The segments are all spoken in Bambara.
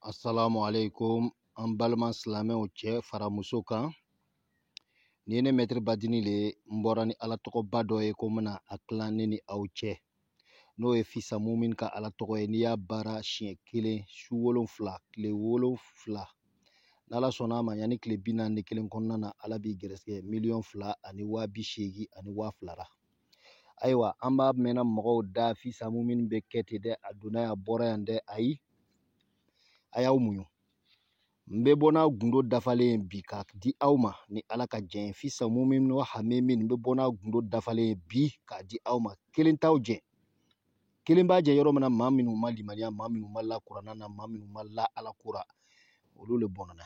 Assalamu alaikum an balima silamɛw cɛ fara muso kan nin ye ne mɛtiri badini le n bɔra ni ala tɔgɔba dɔ ye ko n bɛna a tilan ne ni aw cɛ n'o ye fi samumin ka ala tɔgɔ ye n'i y'a baara siɲɛ kelen su wolonfila tile wolonfila n'ala sɔnna a ma yanni tile bi naani ni kelen kɔnɔna na ala b'i gɛrɛsɛgɛ miliyɔn fila ani waa bi seegin ani waa fila la ayiwa an b'a mɛnna mɔgɔw da fi samumin bɛ kɛ ten dɛ a donna yan a bɔra yan dɛ ayi a y'aw muɲu n bɛ bɔ n'a gundo dafalen ye bi k'a di aw ma ni ala ka jɛn ye fi samumin wa hamimin n bɛ bɔ n'a gundo dafalen ye bi k'a di aw ma kelen t'aw jɛn kelen b'a jɛn yɔrɔ min na maa minnu ma limaniya maa minnu ma la kurana na maa minnu ma la ala ko ra olu le bɔnna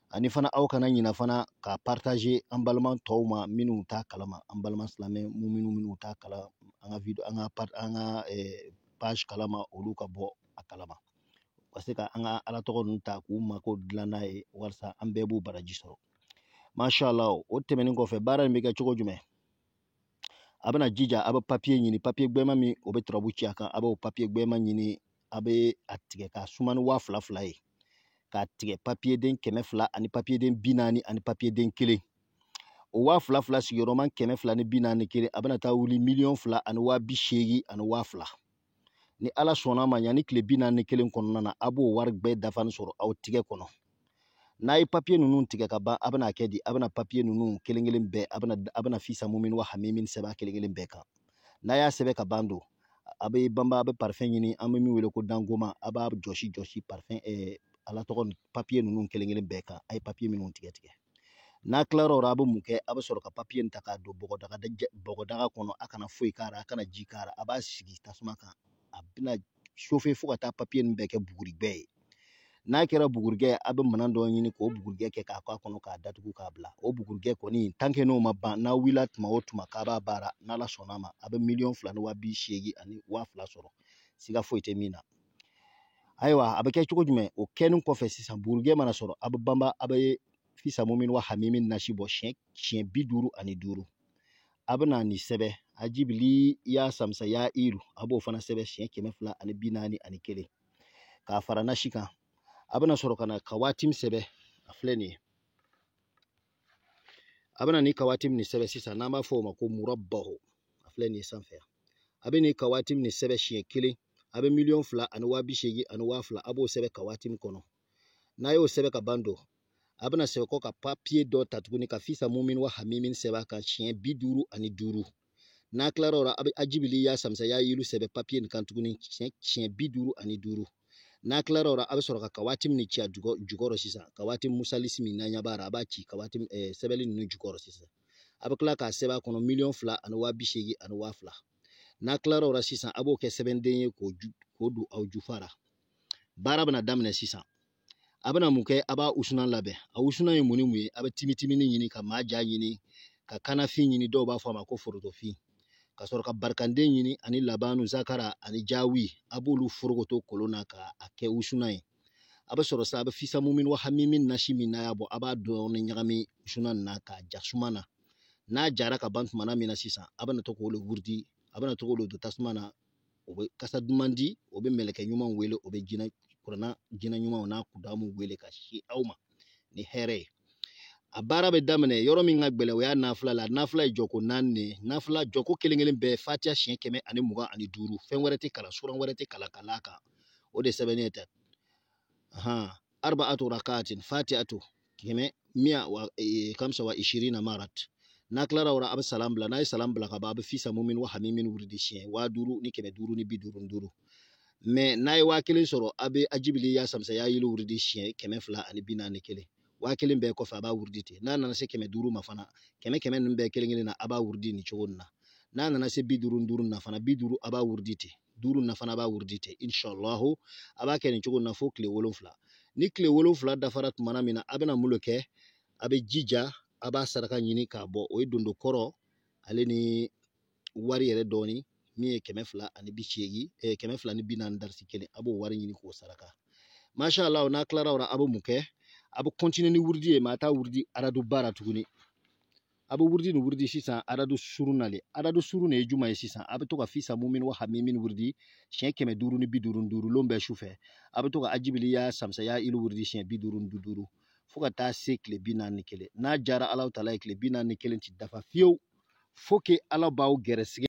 ani fana aw kana ɲina fana ka partager an balima tɔw ma minnu t'a kalama an balima silamɛ minnu minnu t'a kalama an ka video an ka an ka eh, page kalama olu ka bɔ a kalama ka se ka an ka ala tɔgɔ ninnu ta k'u mako dilan n'a ye walasa an bɛɛ b'u baraji sɔrɔ masha Allah o tɛmɛnen kɔfɛ baara in bɛ kɛ cogo jumɛn a bɛna jija a bɛ papiye ɲini papiye gbɛma min o bɛ turabu ci a kan a b'o papiye gbɛma ɲini a bɛ a tigɛ k'a suma ni waa fila fila ye k'a tigɛ papiyeden kɛmɛ fila ani papiyeden bi naani ani papiyeden kelen o waa fila fila sigiyɔrɔma kɛmɛ fila ni bi naani kelen a bɛna taa wuli miliyɔn fila ani waa bi seegin ani waa fila ni ala sɔnn'a ma yanni tile bi naani ni kelen kɔnɔna na a b'o wari bɛɛ dafanin sɔrɔ aw tigɛ kɔnɔ n'a ye papiye ninnu tigɛ ka ban a bɛna kɛ di a bɛna papiye ninnu kelen kelen bɛɛ a bɛna a bɛna fi samumin wa hamimin sɛbɛn kelen kelen bɛɛ kan n'a y'a sɛbɛn ka ban don a bɛ banba a bɛ parifɛn ɲini an bɛ min wele ko dangoma a b'a jɔsi jɔsi parifɛn ala tɔgɔ papiye ninnu kelen kelen bɛɛ kan a ye papiye minnu tigɛ tigɛ n'a tilara o la a bɛ mun kɛ a bɛ sɔrɔ ka papiye in ta k'a don bɔgɔdaga bɔgɔdaga kɔnɔ a kana foyi k'a la a kana ji k'a la a b'a sigi tasuma kan a bɛn'a sofe fo ka taa papiye ninnu bɛɛ kɛ bugurigɛ ye n'a kɛra bugurigɛ ye a bɛ minɛn dɔ ɲini k'o bugurigɛ kɛ k'a k'a kɔnɔ k'a datugu k'a bila o bugurigɛ kɔni tankɛ n'o ma ban n'a wulila tuma o tuma k'a b'a baara n'ala sɔnn'a ma a bɛ miliyɔn fila ni waa bi seegin ani waa fila sɔrɔ siga foyi tɛ min na ayiwa a bɛ kɛ cogo jumɛn o kɛlen kɔfɛ sisan bugurigɛ mana sɔrɔ a bɛ banba a bɛ fi samumin wa hamimin nasi bɔ siɲɛ siɲɛ bi duuru ani duuru a bɛna nin sɛbɛn ajibili ya samsa ya iru a b'o fana sɛbɛn siɲɛ kɛmɛ fila ani bi naani ani kelen k'a fara nasi kan a bɛna sɔrɔ ka na kawatimi sɛbɛn a filɛ nin ye a bɛna nin kawatimi sɛbɛn sisan n'an b'a fɔ o ma ko murabaho a filɛ nin ye sanfɛ a bɛ nin kawatimi sɛbɛn siɲɛ kelen a bɛ miliyɔn fila ani waa bi seegin ani waa fila a b'o sɛbɛn kawatimu kɔnɔ n'a y'o sɛbɛn ka ban don a bɛna sɛbɛn kɔ ka papiye dɔ ta tuguni ka fisa mumin wa hamimin sɛbɛn a kan siɲɛ bi duuru ani duuru n'a tilara o la a bɛ ajibili ya samisa ya yilu sɛbɛn papiye nin kan tuguni siɲɛ bi duuru ani duuru n'a tilara o la a bɛ sɔrɔ ka kawatimu nin ci a jukɔrɔ sisan kawatimu musalisi min n'an ɲɛ b'a la a b'a ci kawatimu sɛbɛnni ninnu jukɔrɔ sisan a bɛ tila k'a sɛbɛn a kɔnɔ miliyɔn fila ani waa bi seegin ani waa fila n'a tilar'o la sisan a b'o kɛ sɛbɛnden ye k'o ju k'o don aw jufa ra baara bɛna daminɛ sisan a bɛna mun kɛ a b'a wusulan labɛn a wusulan ye mun ni mun ye a bɛ timitimini ɲini ka maaja ɲini ka kanafin ɲini dɔw b'a fɔ a ma ko forotofin ka sɔrɔ ka barikanden ɲini ani labanu zakara ani jawi a b'olu forokoto kolon na k'a kɛ wusulan ye a bɛ sɔrɔ sa a bɛ fisa mumin wa hamimin nasi min n'a y'a bɔ a b'a dɔɔni ɲagami wusulan na k'a ja suma na n'a jara ka ban tumana min na sisan a bɛna to k'o le wurudi a bɛna to k'o le don tasuma na o bɛ kasa duman di o bɛ mɛlɛkɛ ɲumanw wele o bɛ jinɛ kuranna jinɛ ɲumanw n'a kudamu wele ka si aw ma ni hɛrɛ ye a baara bɛ daminɛ yɔrɔ min ka gɛlɛn o y'a nafila la nafila ye jɔko naani de ye nafila jɔko kelen kelen bɛɛ fatiya siɲɛ kɛmɛ ani mugan ani duuru fɛn wɛrɛ tɛ kalan suran wɛrɛ tɛ kalan ka l'a kan o de sɛbɛnnen tɛ arba'atu rakatin fati'atu kɛmɛ miya wa e, kamsa wa ishirina marat n'a tilara o la a bɛ salam bila n'a ye salam bila ka ban a bɛ fisa mumin wa hamimin wurudi siɲɛ waa duuru ni kɛmɛ duuru ni bi duuru duuru mɛ n'a ye waa kelen sɔrɔ a bɛ ajibili ya samsa ya yilu wurudi siɲɛ kɛmɛ fila ani bi naani kelen waa kelen bɛɛ kɔfɛ a b'a wurudi ten n'a nana se kɛmɛ duuru ma fana kɛmɛ kɛmɛ ninnu bɛɛ kelen kelen na a b'a wurudi nin cogo nin na n'a nana se bi duuru duuru na fana bi duuru a b'a wurudi ten duuru na fana b'a wurudi ten inshallahu a b'a kɛ nin cogo na fo tile wolonfila ni tile wolonfila dafara tumana min na a bɛna mun le kɛ a bɛ jija a b'a saraka ɲini k'a bɔ o ye dondokɔrɔ ale ni wari yɛrɛ dɔɔni min ye kɛmɛ fila ani bi seegin eh, kɛmɛ fila ni bi naani darisi kelen a b'o wari ɲini k'o saraka masha allah n'a tilara o la a bɛ mun kɛ a bɛ kɔntine ni wurudi ye mɛ a t'a wurudi araduba la tuguni a bɛ wurudi nin wurudi sisan aradu surun na le aradu surun de ye juman ye sisan a bɛ to ka fisa mumin wa hamimin wurudi siɲɛ kɛmɛ duuru ni bi duuru duuru lon bɛɛ su fɛ a bɛ to ka ajibili ya samisa ya yilu wurudi siɲɛ bi duuru ni duuru fo ka taa se tile bi naani ni kelen n'a diyara alahu taala ye tile bi naani ni kelen ti dafa fiyewu fo ke ala b'aw gɛrɛsɛgɛ